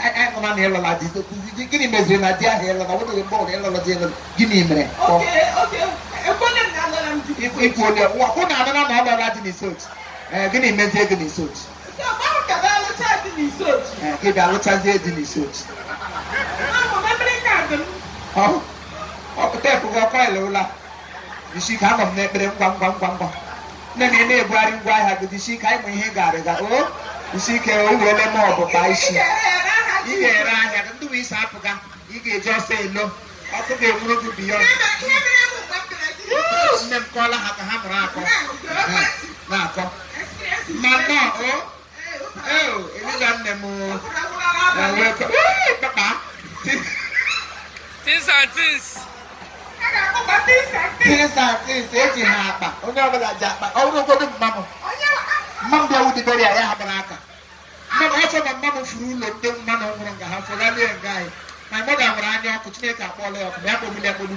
ị hụna na ị lụla di gịnị meziri na di ahụ ị lụla nwebeghị mgbe ọbụla ị lụla di ị lụla gịnị mere ikwu onye ọkwụ na adana na ọ lụla di n'isuochi gịnị mezie gị n'isuochi gị bịa lụchazie di n'isuochi ọ pụta ebugo ọkwa ị lụla isi ka anọ m n'ekpere ngwa ngwa ngwa ngwa nne na ị na-ebugharị ngwa ahịa gị jisi ike anyị ma ihe ị ga-arịga o jisi ike o werele m ọgụ kpaa isi ị ga-ere ahịa gị ndị bụ isi apụga ị ga-eji ọsọ elo ọkụ ga-enwuru gị biyọnd nne m kọọla ha ka ha mụrụ akọ na-akọ ma nnọọ o Things and things. Things and things eji ha akpa onye ọbụla ji akpa ọ bụrụ ogodo mma m mma m bịa wudibere ya ya hapụrụ aka mma m ọsọ na mma m furu ụlọ ndị mmanụ nwụrụ nga ha fụlalie nga anyị my mother nwere anya ọkụ chineke akpọọla ya ọkụ ya kpọgbuli akpogbu